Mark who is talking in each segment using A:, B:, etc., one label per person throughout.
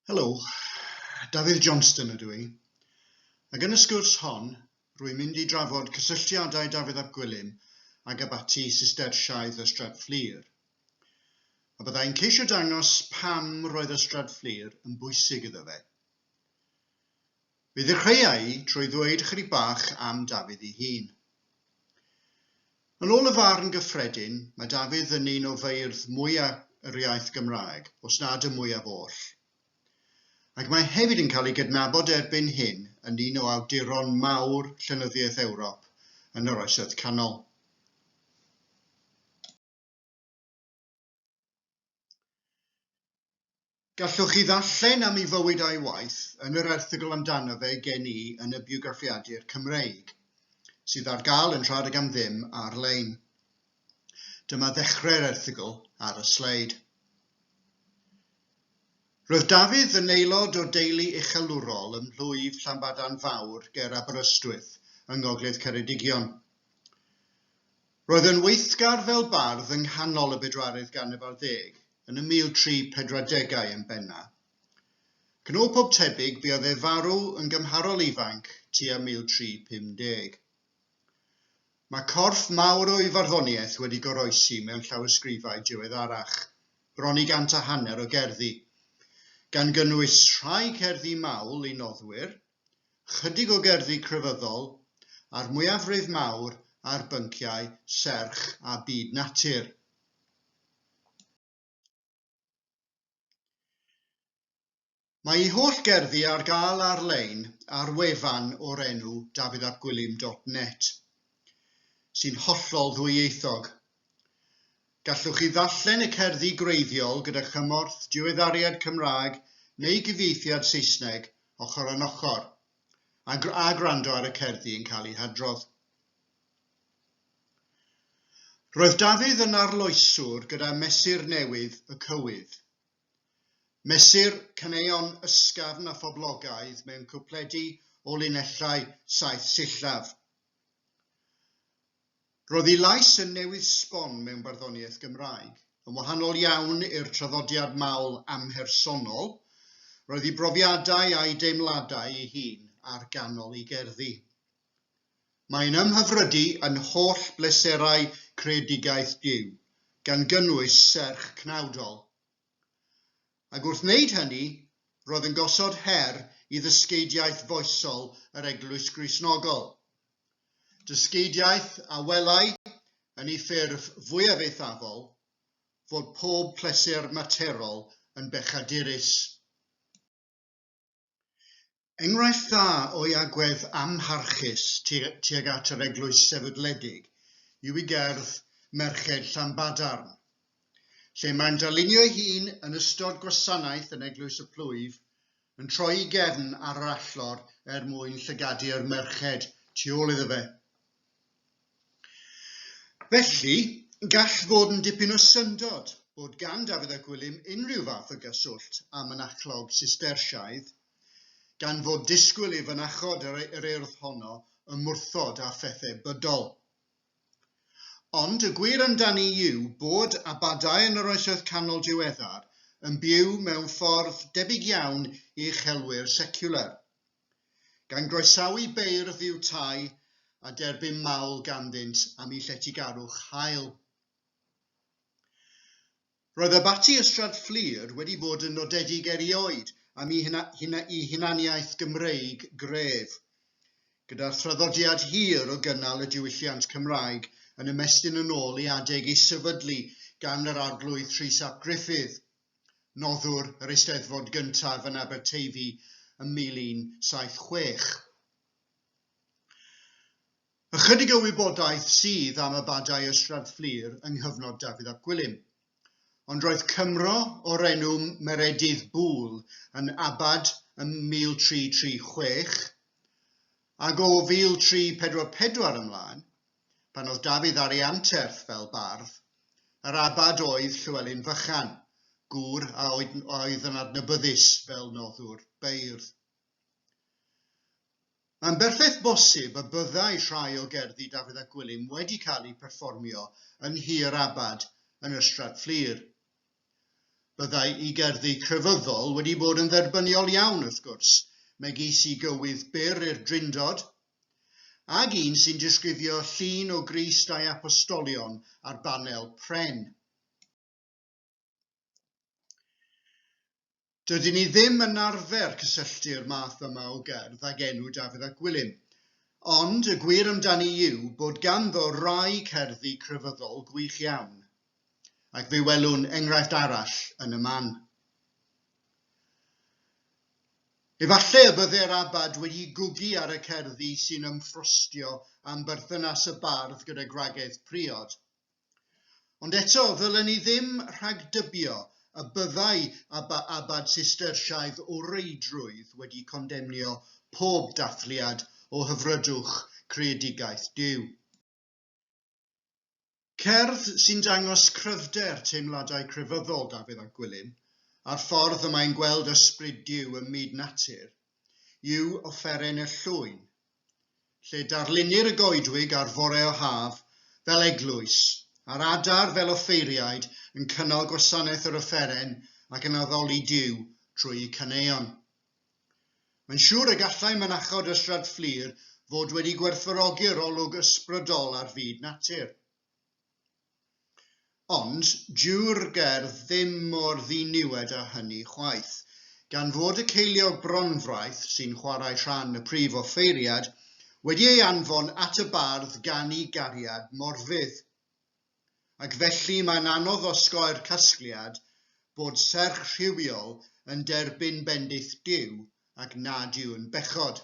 A: Helo, Dafydd Johnston ydw i, ac yn y sgwrs hon, rwy'n mynd i drafod cysylltiadau Dafydd ap Gwilym ag abaty Sistersiaidd Ystrad Fflur. A byddai'n ceisio dangos pam roedd Ystrad Fflur yn bwysig iddo fe. Fe ddechreuai hi trwy ddweud ychydig bach am Dafydd ei hun. Yn ôl y farn gyffredin, mae Dafydd yn un o feirdd mwya' yr iaith Gymraeg, os nad y mwyaf oll. Ac mae hefyd yn cael ei gydnabod erbyn hyn yn un o awduron mawr llenyddiaeth Ewrop yn yr Oesoedd Canol. Gallwch chi ddarllen am ei fywyd a'i waith yn yr erthygl amdano fe gen i yn y biograffiadur Cymreig, sydd ar gael yn rhad ag am ddim ar-lein. Dyma ddechrau'r erthygl ar y sleid. Roedd Dafydd yn aelod o deulu uchelwrol ym mhlwyf Llanbadarn Fawr ger Aberystwyth, yng Ngogledd Ceredigion. Roedd yn weithgar fel bardd yng nghanol y bedwaredd ganrif ar ddeg, yn y 1340au yn benna. Ac yn ôl pob tebyg buodd ef farw yn gymharol ifanc tua 1350. Mae corff mawr o'i farddoniaeth wedi goroesi mewn llawysgrifau diweddarach, bron i gant a hanner o gerddi, gan gynnwys rhai cerddi mawl i noddwyr, Ychydig o gerddi crefyddol, a'r mwyafrif mawr ar bynciau serch a byd natur. Mae ei holl gerddi ar gael ar-lein ar wefan o'r enw dafyddapgwilym.net, sy'n hollol ddwyieithog. Gallwch chi ddarllen y cerddi gwreiddiol gyda chymorth diweddariad Cymraeg neu gyfieithiad Saesneg ochr yn ochr a, a gwrando ar y cerddi yn cael eu hadrodd. Roedd Dafydd yn arloeswr gyda mesur newydd y cywydd. Mesur caneuon ysgafn a phoblogaidd mewn cwpledi o linellau saith sillaf. Roedd ei lais yn newydd sbon mewn barddoniaeth Gymraeg. Yn wahanol iawn i'r traddodiad mawl amhersonol, roedd ei brofiadau a'i deimladau ei hun ar ganol ei gerddi. Mae'n ymhyfrydu yn holl bleserau creadigaeth Duw, gan gynnwys serch cnawdol. Ac wrth wneud hynny, roedd yn gosod her i ddysgeidiaeth foesol yr Eglwys Gristnogol, Dysgeidiaeth a welai, yn ei ffurf fwyaf eithafol, fod pob pleser materol yn bechadurus. Enghraifft dda o'i agwedd amharchus tuag at yr eglwys sefydledig yw ei gerdd Merched Llanbadarn, lle mae'n darlunio'i hun yn ystod gwasanaeth yn Eglwys y Plwyf yn troi'i gefn ar yr allor er mwyn llygadu'r merched tu ôl iddo fe. Felly, gall fod yn dipyn o syndod bod gan Dafydd a Gwilym unrhyw fath o gyswllt â mynachlog Sistersiaidd, gan fod disgwyl i fynachod yr Urdd honno ymwrthod â phethau bydol. Ond y gwir amdani yw bod abadau yn yr Oesoedd Canol diweddar yn byw mewn ffordd debyg iawn i uchelwyr seciwlar, gan groesawu beirdd i'w tai a derbyn mawl ganddynt am eu lletygarwch hael. Roedd Abaty Ystrad Fflur wedi bod yn nodedig erioed am i i hunaniaeth Gymreig gref, gyda'r thraddodiad hir o gynnal y diwylliant Cymraeg yn ymestyn yn ôl i adeg ei sefydlu gan yr Arglwydd Rhys ap Gruffydd, noddwr yr Eisteddfod gyntaf yn Aberteifi ym 1176. Ychydig o wybodaeth sydd am y badau Ystrad Fflur yng nghyfnod Dafydd ap Gwilym. Ond roedd Cymro o'r enw Meredydd Bul yn abad ym 1336, ac o 1344 ymlaen, pan oedd Dafydd ar ei anterth fel bardd, yr abad oedd Llywelyn Fychan, gŵr a oedd yn adnabyddus fel noddwr beirdd. Mae'n berffaith bosib y byddai rhai o gerddi Dafydd ap Gwilym wedi cael eu perfformio yn Nhŷ'r Abad yn yr Ystrad Fflur. Byddai'i gerddi crefyddol wedi bod yn dderbyniol iawn, wrth gwrs, megis i gywydd byr i'r Drindod, ag un sy'n disgrifio llun o Grist a'i Apostolion ar banel pren. Dydyn ni ddim yn arfer cysylltu'r math yma o gerdd ag enw Dafydd ap Gwilym, ond y gwir amdani yw bod ganddo rai cerddi crefyddol gwych iawn, ac fe welwn enghraifft arall yn y man. Efallai y bydde'r abad wedi gwgu ar y cerddi sy'n ymffrostio am berthynas y bardd gyda gwragedd priod, Ond eto, ddylen ni ddim rhagdybio y byddai a bad Sistersaidd o reidrwydd wedi condemnio pob dathliad o hyfrydwch creedigaeth Duw. Cerdd sy'n dangos cryfder teimladau crefyddol Dafydd ap Gwilym, a'r ffordd y mae'n gweld ysbryd Duw ym myd natur, yw Offeren y Llwyn, lle darlunnir y goedwig ar fore o haf fel eglwys, a'r adar fel offeiriaid yn cynnal gwasanaeth yr offeren ac yn addoli Duw trwy'u caneuon. Mae'n siŵr y gallai mynachod Ystrad Fflur fod wedi gwerthfawrogi'r olwg ysbrydol ar fyd natur. Ond dyw'r gerdd ddim mor ddiniwed â hynny chwaith. Gan fod y ceiliog bronfraith, sy'n chwarae rhan y prif offeiriad, wedi ei anfon at y bardd gan ei gariad morfudd. Ac felly mae'n anodd osgoi'r casgliad bod serch rhywiol yn derbyn bendith Duw ac nad yw'n bechod.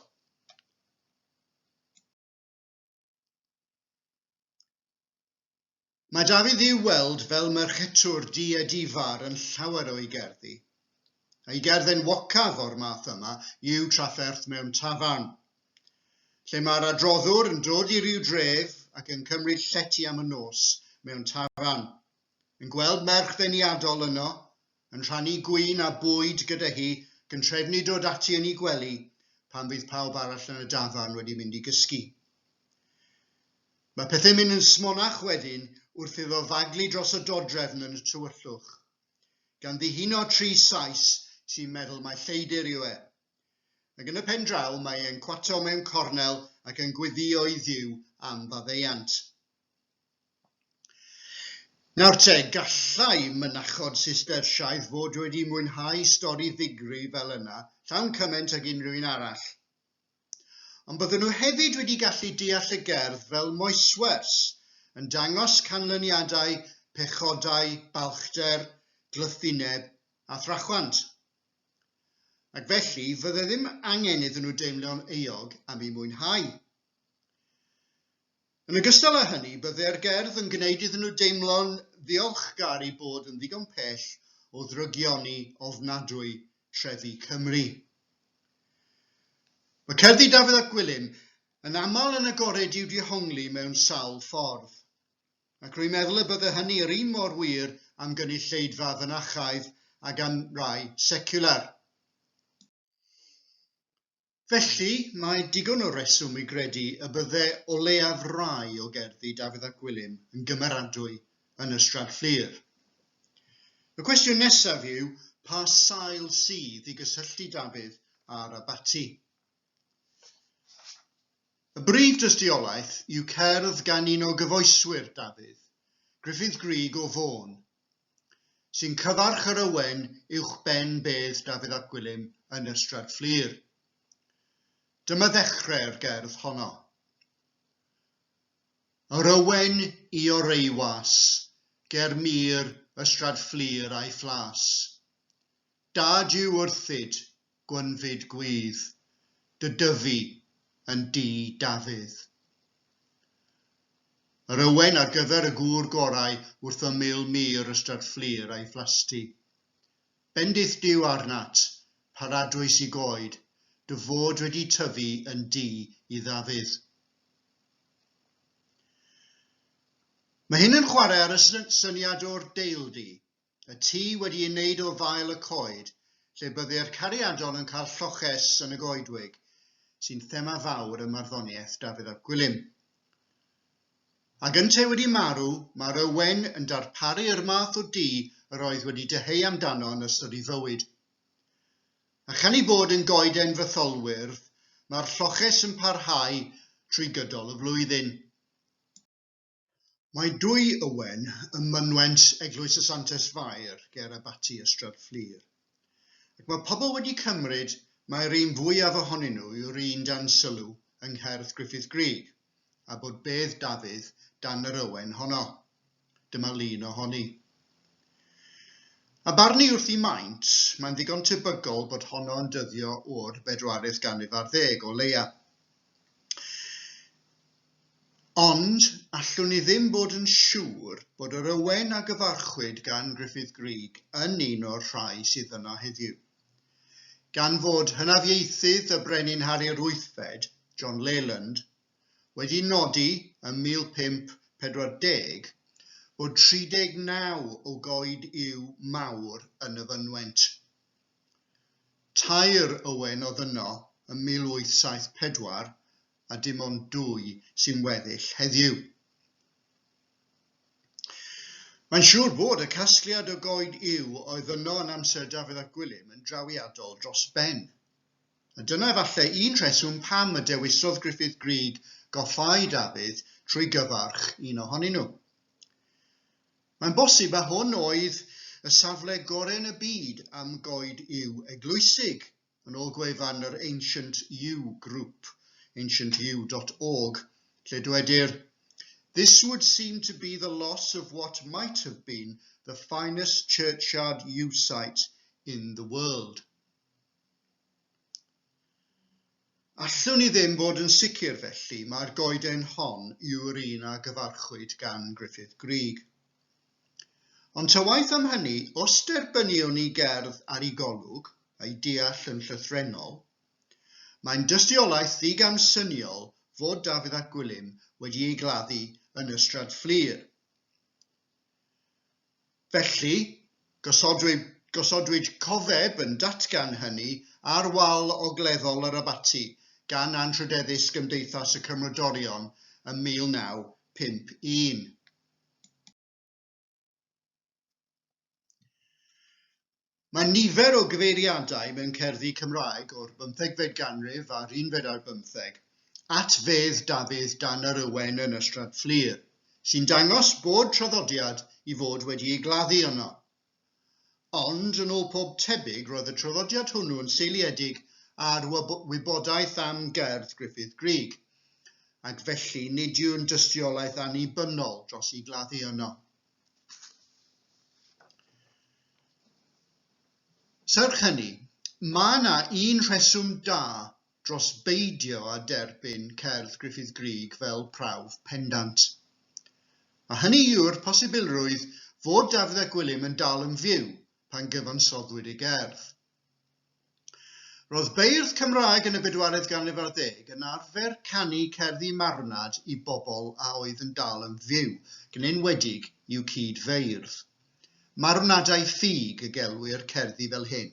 A: Mae Dafydd i'w weld fel merchetwr diedifar yn llawer o'i gerddi. Ei gerdd enwocaf o'r math yma yw Trafferth mewn Tafarn, lle mae'r adroddwr yn dod i ryw dref ac yn cymryd llety am y nos mewn tafarn. Yn gweld merch ddeniadol yno, yn rhannu gwin a bwyd gyda hi, gyntrefnu dod ati yn 'i gwely pan fydd pawb arall yn y dafarn wedi mynd i gysgu. Mae pethau'n mynd yn smonach wedyn wrth iddo faglu dros y dodrefn yn y tywyllwch, gan ddihuno tri Sais sy'n meddwl mai lleidr yw e. Ac yn y pen draw mae e'n cwato mewn cornel ac yn gweddïo i Dduw am faddeuant. Nawr te, gallai mynachod Sistersaidd fod wedi mwynhau stori ddigri fel yna llawn cymaint ag unrhyw un arall. Ond bydden nhw hefyd wedi gallu deall y gerdd fel moeswers, yn dangos canlyniadau pechodau balchder, glythineb a thrachwant. Ac felly, fydde ddim angen iddyn nhw deimlo'n euog am eu mwynhau. Yn ogystal â hynny, byddai'r gerdd yn gwneud iddyn nhw deimlo'n ddiolchgar i bod yn ddigon pell o ddrygioni ofnadwy trefi Cymru. Mae cerddi Dafydd ap Gwilym yn aml yn agored i'w dihongli mewn sawl ffordd, ac rwy'n meddwl y bydde hynny yr un mor wir am gynulleidfa fynachaidd ag am rai seciwlar. Felly, mae digon o reswm i gredu y bydde o leiaf rai o gerddi Dafydd ap Gwilym yn gymeradwy yn Ystrad Fflur. Y cwestiwn nesaf yw pa sail sydd i gysylltu Dafydd a'r abaty. Y brif dystiolaeth yw cerdd gan un o gyfoeswyr Dafydd, Gruffudd Grug o Fôn, sy'n cyfarch yr ywen uwchben bedd Dafydd ap Gwilym yn Ystrad Fflur. Dyma ddechrau'r gerdd honno. Yr ywen i oreiwas, ger mur Ystrad Fflur a'i phlas. Dad i'w wrthyd, gwynfyd gwydd, dy dyfu yn dŷ Dafydd. Yr ywen ar gyfer y gŵr gorau wrth ymyl mur Ystrad Fflur a'i phlasty. Bendith Duw arnat, paradwys i goed, dy fod wedi tyfu yn dŷ i Ddafydd. Mae hyn yn chwarae ar y syniad o'r deildy, y tŷ wedi ei wneud o fael y coed, lle bydde'r cariadon yn cael lloches yn y goedwig, sy'n thema fawr ym marddoniaeth Dafydd ap Gwilym. Ac yntau wedi marw, mae'r ywen yn darparu'r math o du yr oedd wedi dyheu amdano yn ystod ei fywyd. A chan ei bod yn goeden fytholwyrdd, mae'r lloches yn parhau trwy gydol y flwyddyn. Mae dwy ywen ym mynwent Eglwys y Santes Fair ger Abaty Ystrad Fflur. Ac mae pobl wedi cymryd mai'r un fwyaf ohonyn nhw yw'r un dan sylw yng ngherdd Gruffydd Grug, a bod bedd Dafydd dan yr ywen honno. Dyma lun ohoni. A barn i wrth i maint, mae'n ddigon tebygol bod honno yn dyddio o'r bedwaredd ganrif ar ddeg, o leia. Ond, allwn i ddim bod yn siŵr bod yr ywen a gyfarchwyd gan Gruffydd Grug yn un o'r rhai sydd yno heddiw. Gan fod hynafiaethydd y Brenin Harri'r Wythfed, John Leyland, wedi nodi ym 1540 bod 39 o goed yw mawr yn y fynwent, tair ywen oedd yno ym 1874 a dim ond dwy sy'n weddill heddiw. Mae'n siŵr bod y casgliad o goed yw oedd yno yn amser Dafydd ap Gwilym yn drawiadol dros ben. A dyna efallai un rheswm pam y dewisodd Gruffydd Grug goffáu Dafydd trwy gyfarch un ohonyn nhw. Mae'n bosib a hwn oedd y safle gorau'n y byd am goed yw eglwysig, Yn ôl gwefan yr Ancient U Group, ancientu dot org, lle dwedir, This would seem to be the loss of what might have been the finest churchyard U site in the world. Allwn ni ddim fod yn sicr felly mai'r goeden hon yw'r un a gyfarchwyd gan Griffith Greig. Ond ta waeth am hynny, os derbyniwn i gerdd ar ei golwg, a'i deall yn llythrennol, mae'n dystiolaeth ddigamsyniol fod Dafydd ap Gwilym wedi ei gladdu yn Ystrad Fflur. Felly, gosodwyd, gosodwyd cofeb yn datgan hynny ar wal ogleddol yr abaty gan Anrhydeddus Gymdeithas y Cymrodorion ym 1951. Mae nifer o gyfeiriadau mewn cerddi Cymraeg o'r bymthegfed ganrif a'r unfed ar bymtheg at fedd Dafydd dan yr Ywen yn Ystrad Fflur, sy'n dangos bod traddodiad i fod wedi ei gladdu yno. Ond, yn ôl pob tebyg, roedd y traddodiad hwnnw yn seiliedig ar wybodaeth am gerdd Gruffydd Grug, ac felly nid yw'n dystiolaeth annibynnol dros i gladdu yno. Serch hynny, mae yna un rheswm da dros beidio â derbyn cerdd Gruffydd Grug fel prawf pendant. A hynny yw'r posibilrwydd fod Dafydd ap Gwilym yn dal yn fyw pan gyfansoddwyd ei gerdd. Roedd beirdd Cymraeg yn y bedwaredd ganrif ar ddeg yn arfer canu cerddi marwnad i bobl a oedd yn dal yn fyw, yn enwedig i'w cyd-feirdd. Marwnadau ffug y gelwir cerddi fel hyn.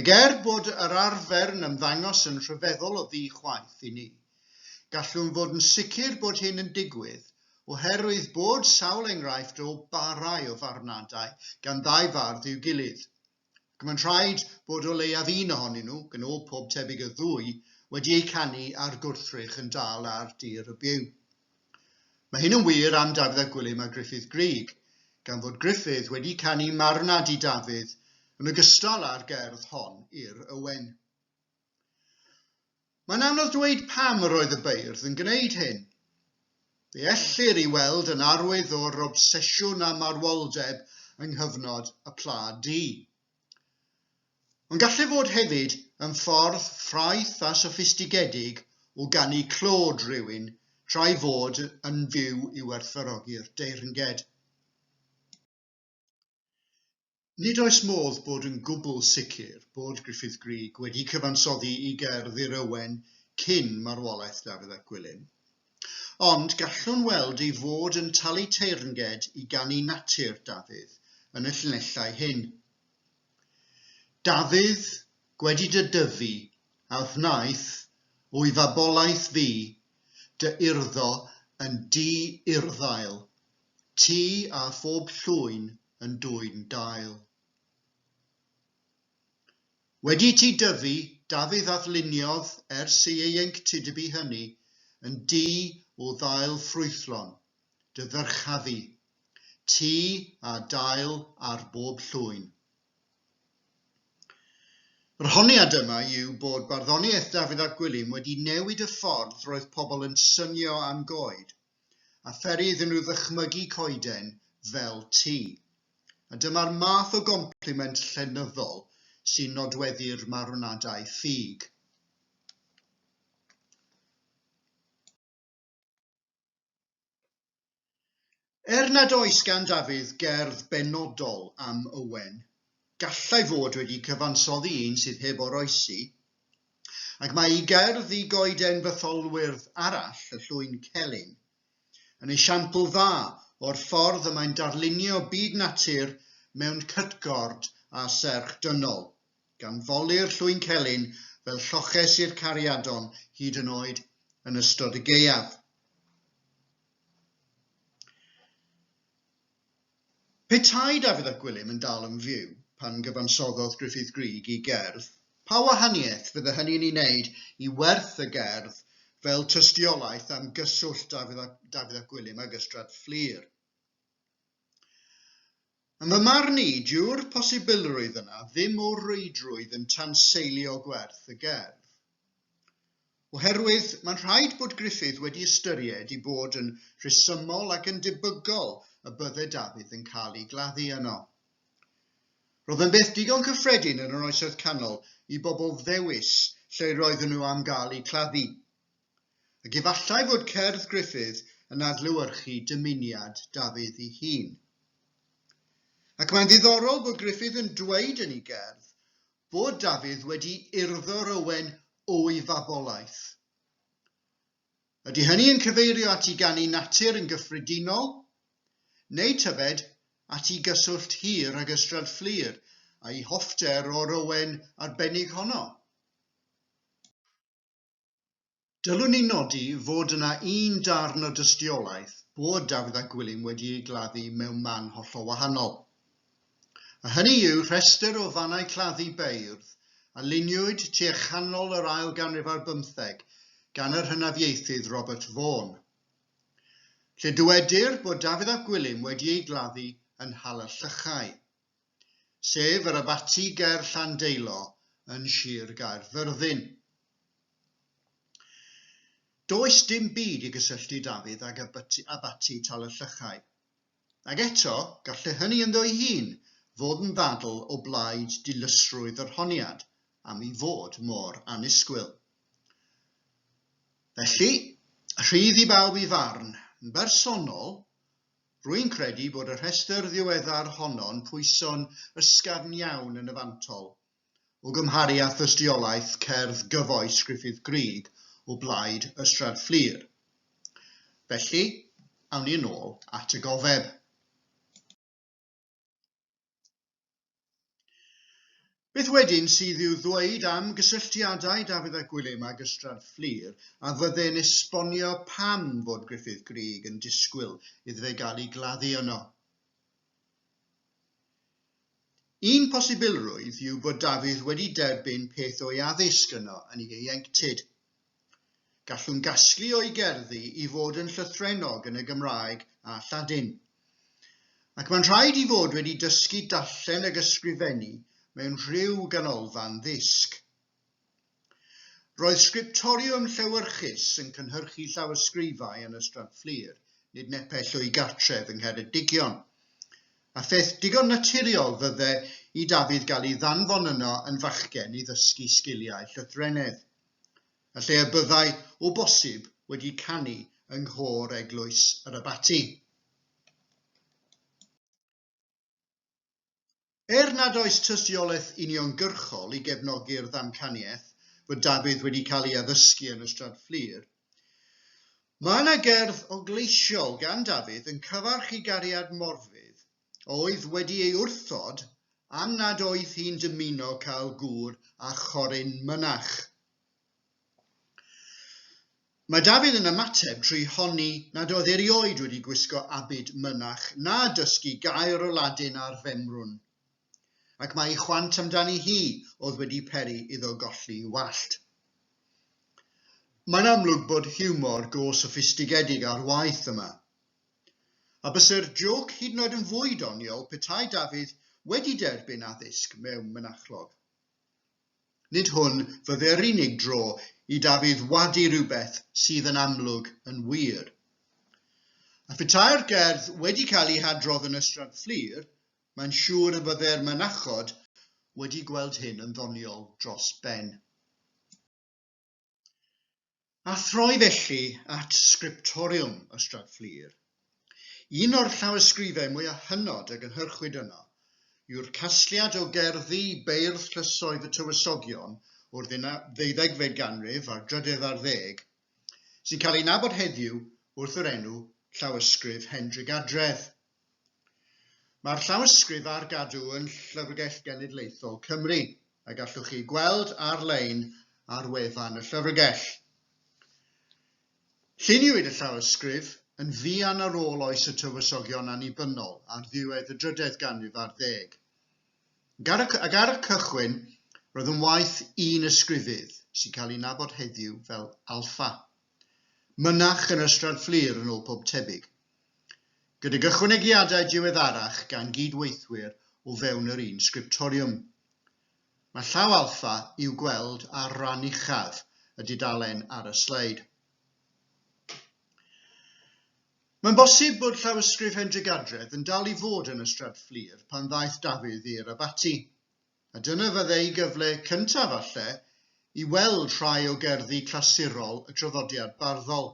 A: Ac er bod yr arfer yn ymddangos yn rhyfeddol o ddi-chwaeth i ni, gallwn fod yn sicr bod hyn yn digwydd oherwydd bod sawl enghraifft o barau o farwnadau gan ddau fardd i'w gilydd, ac mae'n rhaid bod o leiaf un ohonyn nhw, yn ôl pob tebyg y ddwy, wedi eu canu ar gwrthrych yn dal ar dir y byw. Mae hyn yn wir am Dafydd ap Gwilym a Gruffydd Grug, gan fod Gruffydd wedi canu 'Marwnad i Dafydd' yn ogystal â'r gerdd hon i'r Ywen. Mae'n anodd dweud pam yr oedd y beirdd yn gwneud hyn. Fe ellir i weld yn arwydd o'r obsesiwn â marwoldeb yng nghyfnod y Pla Du. Mae'n gallu fod hefyd yn ffordd ffraeth a soffistigedig o ganu clod rhywun tra'i fod yn fyw i werthfawrogi'r deyrnged. Nid oes modd bod yn gwbl sicr bod Gruffydd Grug wedi cyfansoddi i gerdd I'r Owen cyn marwolaeth Dafydd ap Gwilym, Ond gallwn weld ei fod yn talu teyrnged i ganu natur Dafydd yn y llinellau hyn. Dafydd, gwedi dy dyfu, a wnaeth, o'i fabolaeth fi, dy urddo yn du urddail, ti a phob llwyn yn dwyn dail. Wedi ti dyfu, Dafydd a ddyluniodd ers ei ieuenctidbu hynny yn du o ddail ffrwythlon, dy ddyrchafu, ti a dail ar bob llwyn. Yr honiad yma yw bod barddoniaeth Dafydd ap Gwilym wedi newid y ffordd roedd pobl yn synio am goed, a pheri iddyn nhw ddychmygu coeden fel ti. A dyma'r math o gompliment llenyddol sy'n nodweddu'r marwnadau ffug. Er nad oes gan Dafydd gerdd benodol am Owen, gallai fod wedi cyfansoddi un sydd heb oroesi, ac mae ei gerdd i goeden fytholwyrdd arall, y llwyn celyn, yn esiampl dda o'r ffordd y mae'n darlunio byd natur mewn cytgord a serch dynol, gan foli'r llwyncelyn fel lloches i'r cariadon hyd yn oed yn ystod y gaeaf. Petai Dafydd ap Gwilym yn dal yn fyw pan gyfansoddodd Gruffydd Grug i gerdd, pa wahaniaeth fydde hynny'n ei wneud i werth y gerdd fel tystiolaeth am gyswllt Dafydd ap Gwilym ag Ystrad Fflur? Yn fy marn i, dyw'r posibilrwydd yna ddim o reidrwydd yn tanseilio gwerth y gerdd. Oherwydd, mae'n rhaid bod Gruffydd wedi ystyried i bod yn rhesymol ac yn debygol y bydde Dafydd yn cael ei gladdu yno. Roedd yn beth digon cyffredin yn yr Oesoedd Canol i bobl ddewis lle roedden nhw am gael eu claddu, ac efallai fod cerdd Gruffydd yn adlewyrchu dymuniad Dafydd ei hun. Ac mae'n ddiddorol bod Gruffydd yn dweud yn ei gerdd fod Dafydd wedi urddo'r ywen o'i fabolaeth. Ydy hynny yn cyfeirio at 'i ganu natur' yn gyffredinol, neu tybed at 'i gyswllt hir ag Ystrad Fflur a'i hoffter o'r ywen arbennig honno? Dylwn i nodi fod yna un darn o dystiolaeth bod Dafydd a Gwilym wedi eu gladdu mewn man hollol wahanol. A hynny yw rhestr o fannau claddu beirdd a luniwyd tua chanol yr ail ganrif ar bymtheg gan yr hynafiaethydd Robert Vaughan, lle dywedir bod Dafydd ap Gwilym wedi ei gladdu yn Nhal-y-llychau. sef yr abaty ger Llandeilo yn Sir Gaerfyrddin. Does dim byd i gysylltu Dafydd ag abaty, abaty Tal-y-llychau. Ac eto, gallai hynny ynddo'i hun fod yn ddadl o blaid dilysrwydd yr honiad am ei fod mor annisgwyl. Felly, rhydd i bawb i farn. Yn bersonol, Rwy'n credu bod y rhestr ddiweddar honno'n pwyso'n ysgafn iawn yn y fantol, o gymharu â thystiolaeth cerdd gyfoes Gruffydd Grug o blaid Ystrad Fflur. Felly, awn ni yn ôl at y gofeb. Beth wedyn sydd i'w ddweud am gysylltiadau Dafydd a Gwilym ag Ystrad Fflur, a fydde'n esbonio pam fod Gruffydd Grug yn disgwyl iddo fe gael ei gladdu yno? Un posibilrwydd yw bod Dafydd wedi derbyn peth o'i addysg yno yn ieuenctid, Gallwn gasglu o'i gerddi i fod yn llythrennog yn y Gymraeg a Lladin. Ac mae'n rhaid i fod wedi dysgu darllen ag ysgrifennu mewn rhyw ganolfan ddisg. Roedd sgriptoriwm llewyrchus yn cynhyrchu llawysgrifau yn Ystrad Fflur, nid nepell o'i gartref yng Ngheredigion, a pheth digon naturiol fydde i Dafydd gael ei ddanfon yno yn fachgen i ddysgu sgiliau llythrennedd. y lle y byddai, o bosib, wedi canu yng nghôr eglwys yr abaty. Er nad oes tystiolaeth uniongyrchol i gefnogi'r ddamcaniaeth fod Dafydd wedi cael ei addysgu yn y Stradfflir, Mae yna gerdd ogleisiol gan Dafydd yn cyfarch i gariad Morfudd oedd wedi ei wrthod am nad oedd hi'n dymuno cael gŵr â choryn mynach. Mae Dafydd yn ymateb trwy honni nad oedd erioed wedi gwisgo abid mynach na dysgu gair o Ladin ar femrwn, ac mae ei chwant amdani hi oedd wedi peri iddo golli wallt. Mae'n amlwg bod hiwmor go soffistigedig ar waith yma. A bysai'r jôc hyd yn oed yn fwy doniol petai Dafydd wedi derbyn addysg mewn mynachlog. Nid hwn fydde'r unig dro i Dafydd wadu rhywbeth sydd yn amlwg yn wir. A phetai'r gerdd wedi cael ei hadrodd yn Ystrad Fflur, mae'n siŵr y bydde'r mynachod wedi gweld hyn yn ddoniol dros ben. A throi felly at Scriptorium Ystrad Fflur, un o'r llawysgrifau mwyaf hynod a gynhyrchwyd yno yw'r casgliad o gerddi beirdd llysoedd y Tywysogion o'r ddeuddegfed ganrif a'r drydedd ar ddeg, sy'n cael ei nabod heddiw wrth yr enw Llawysgrif Hendrigadredd. Mae'r llawysgrif ar gadw yn Llyfrgell Genedlaethol Cymru, a gallwch chi gweld ar-lein ar wefan y Llyfrgell. Lluniwyd y llawysgrif yn fuan ar ôl oes y tywysogion annibynnol ar ddiwedd y drydedd ganrif ar ddeg. Ac ar y cychwyn, roedd yn waith un ysgrifydd, sy'n cael ei nabod heddiw fel Alpha. Mynach yn Ystrad Fflur yn ôl pob tebyg. Gydag ychwanegiadau diweddarach gan gyd-weithwyr o fewn yr un sgriptoriwm. Mae llaw Alpha i'w gweld ar ran uchaf y dudalen ar y sleid. Mae'n bosib bod llawysgrif Hendrick Adredd yn dal i fod yn Ystrad Fflur pan ddaeth Dafydd i'r abaty. a dyna fyddai gyfle cyntaf falle i weld rhai o gerddi clasurol y traddodiad barddol.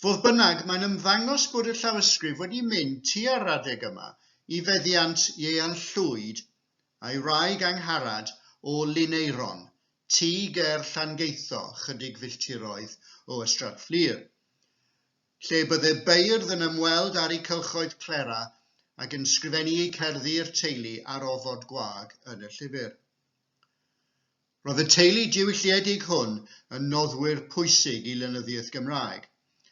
A: Fodd bynnag, mae'n ymddangos bod y llawysgrif wedi mynd tua'r adeg yma i feddiant Ieuan Llwyd a'i wraig Angharad o Lineiron, tŷ ger Llangeitho, chydig filltiroedd o Ystrad Fflur. lle bydde beirdd yn ymweld ar eu cylchoedd plera ac yn sgrifennu eu cerddi i'r teulu ar ofod gwag yn y llyfr. Roedd y teulu diwylliedig hwn yn noddwyr pwysig i lenyddiaeth Gymraeg,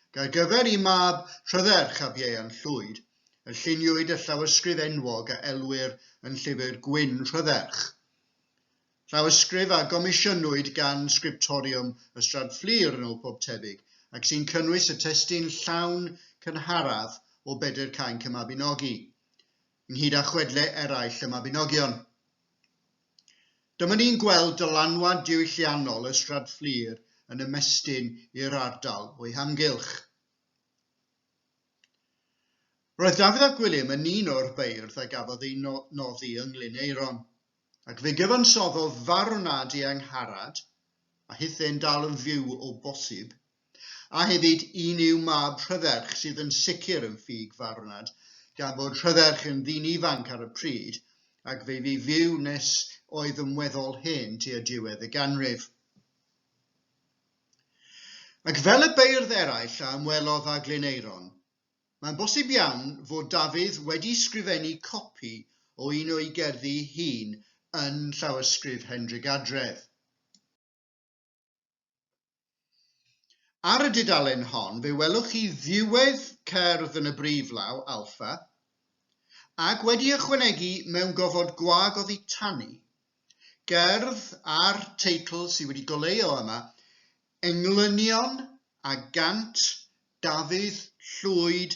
A: ac ar gyfer i mab Rhydderch ab Ieuan Llwyd, y lluniwyd y llawysgrif enwog a elwir yn Llyfr Gwyn Rhydderch. Llawysgrif a gomisiynwyd gan Sgriptoriwm Ystrad Fflur yn ôl pob tebyg, ac sy'n cynnwys y testun llawn cynharaf o Bedr Cainc y Mabinogi, ynghyd â chwedle eraill y Mabinogion. Dyma ni'n gweld dylanwad diwylliannol Ystrad Fflur yn ymestyn i'r ardal o'i hamgylch. Roedd Dafydd ap Gwilym yn un o'r beirdd a gafodd eu noddi yng Nglyn Aeron. Ac fe gyfansoddodd farw nad i Angharad, a hithau yn dal yn fyw o bosib, a hefyd un i'w mab Rhyferch sydd yn sicr yn ffug farwnad, gan fod Rhyferch yn ddyn ifanc ar y pryd, ac fe fu fyw nes oedd yn weddol hen tua diwedd y ganrif. Ac fel y beirdd eraill a ymwelodd â Glyneiron, Mae'n bosib iawn fod Dafydd wedi sgrifennu copi o un o'i gerddi hun yn Llawysgrif Hendrick Adredd. Ar y dudalen hon fe welwch chi ddiwedd cerdd yn y briflaw, alpha, ac wedi ychwanegu mewn gofod gwag oddi tani, gerdd a'r teitl sydd wedi goleuo yma, Englynion a gant Dafydd Llwyd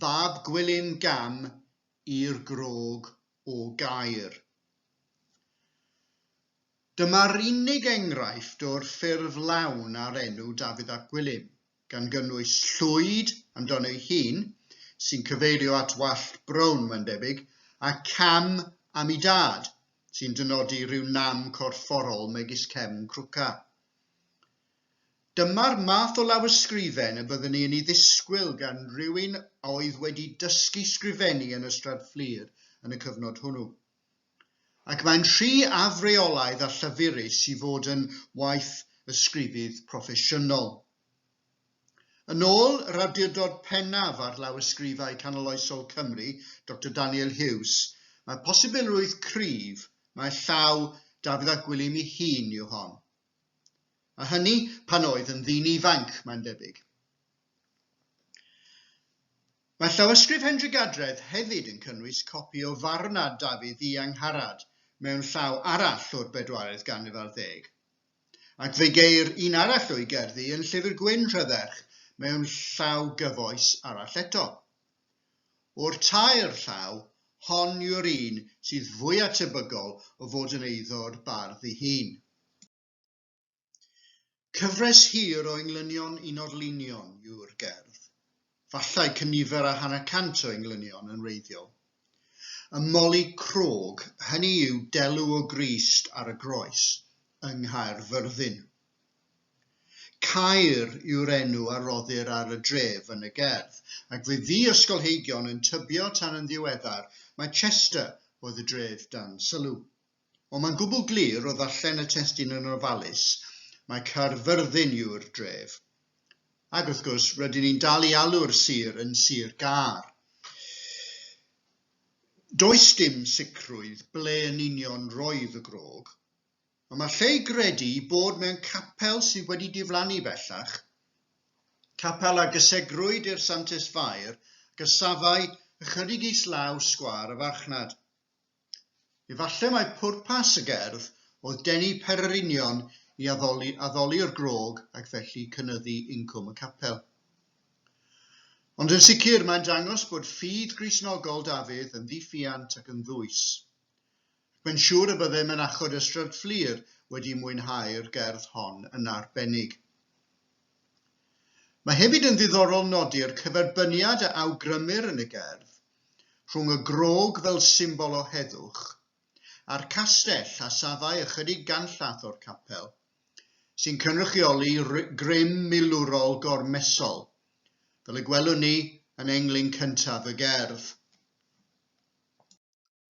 A: fab Gwilym Gam i'r grog o Gaer. Dyma'r unig enghraifft o'r ffurf lawn ar enw Dafydd ap Gwilym, gan gynnwys Llwyd amdano ei hun, sy'n cyfeirio at wallt brown, mae'n debyg, a Cam am ei dad, sy'n dynodi rhyw nam corfforol megis cefn crwca. Dyma'r math o lawysgrifen y byddwn i yn ei ddisgwyl gan rywun a oedd wedi dysgu sgrifennu yn Ystrad Fflur yn y cyfnod hwnnw. Ac mae'n rhy afreolaidd a llyfurus i fod yn waith ysgrifydd proffesiynol. Yn ôl yr awdurdod pennaf ar lawysgrifau canoloesol Cymru, Doctor Daniel Hughes, mae posibilrwydd cryf mai llaw Dafydd ap Gwilym ei hun yw hon. A hynny pan oedd yn ddyn ifanc, mae'n debyg. Mae llawysgrif Hendry Gadredd hefyd yn cynnwys copi o farwnad Dafydd i Angharad mewn llaw arall o'r bedwaredd ganrif ar ddeg. Ac fe geir un arall o'i gerddi yn Llyfr Gwyn Rhydderch mewn llaw gyfoes arall eto. O'r tair llaw, hon yw'r un sydd fwya tebygol o fod yn eiddo'r bardd ei hun. Cyfres hir o englynion un orlinion yw'r gerdd. Falle cynifer a hanner cant o englynion yn wreiddiol. Ym Moli Crog, hynny yw delw o Grist ar y Groes yng Nghaerfyrddin. Caer yw'r enw a roddir ar y dref yn y gerdd, ac fe fu ysgolheigion yn tybio tan yn ddiweddar mai Chester oedd y dref dan sylw. Ond mae'n gwbl glir o ddarllen y testun yn ofalus mai Caerfyrddin yw'r dref. Ac wrth gwrs, rydyn ni'n dal i alw'r sir yn Sir Gâr. Does dim sicrwydd ble yn union roedd y grog, ond mae lle i gredu i bod mewn capel sydd wedi diflannu bellach, capel a gysegrwyd i'r Santes Fair, gysafai ychydig islaw sgwâr y farchnad. Efallai mai pwrpas y gerdd oedd denu pererinion i addoli addoli'r grog ac felly cynyddu incwm y capel. Ond yn sicr mae'n dangos bod ffydd Gristnogol Dafydd yn ddiffiant ac yn ddwys. Ac mae'n siŵr y bydde Mynachod Ystrad Fflur wedi mwynhau'r gerdd hon yn arbennig. Mae hefyd yn ddiddorol nodi'r cyferbyniad a awgrymir yn y gerdd rhwng y grog fel symbol o heddwch a'r castell a safai ychydig ganllath o'r capel, sy'n cynrychioli grym milwrol gormesol, fel y gwelwn ni yn englyn cyntaf y gerdd.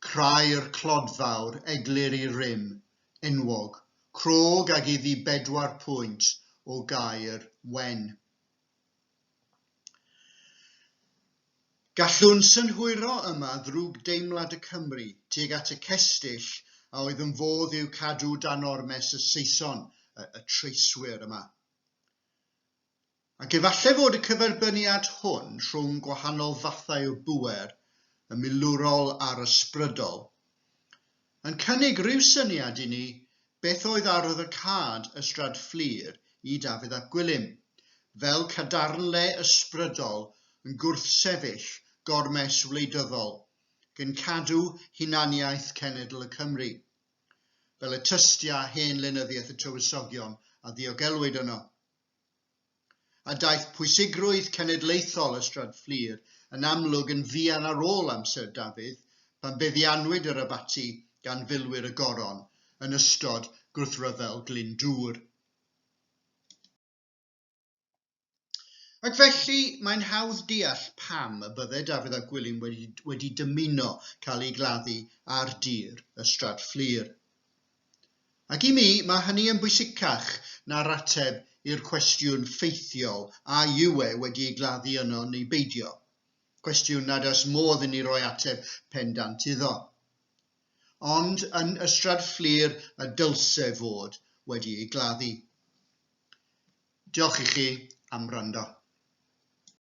A: Crair clodfawr, egluri rym, enwog, crog ag iddi bedwar pwynt o gaer wen. Gallwn synhwyro yma ddrwg deimlad y Cymry tuag at y cestyll a oedd yn fodd i'w cadw dan ormes y Saeson, y, y treiswyr yma. Ac efallai fod y cyferbyniad hwn rhwng gwahanol fathau o bŵer, y milwrol a'r ysbrydol, yn cynnig rhyw syniad i ni beth oedd arwydd y cad Ystrad Fflur i Dafydd ap Gwilym, fel cadarnle ysbrydol yn gwrthsefyll gormes wleidyddol gyn cadw hunaniaeth cenedl y Cymry, fel y tystia hen lenyddiaeth y Tywysogion a ddiogelwyd yno. a daeth pwysigrwydd cenedlaethol y Stryd Fflur yn amlwg yn fuan ar ôl amser Dafydd pan feddiannwyd yr abaty gan filwyr y Goron yn ystod gwrthryfel Glyndŵr. Ac felly, mae'n hawdd deall pam y bydde Dafydd a Gwilym wedi, wedi dymuno cael eu gladdu ar dir y Strad Fflur. Ac i mi, mae hynny yn bwysicach na'r ateb i'r cwestiwn ffeithiol a yw e wedi ei gladdu yno neu beidio, cwestiwn nad oes modd inni roi ateb pendant iddo. Ond yn Ystrad Fflur y dylse fod wedi ei gladdu. Diolch i chi am wrando.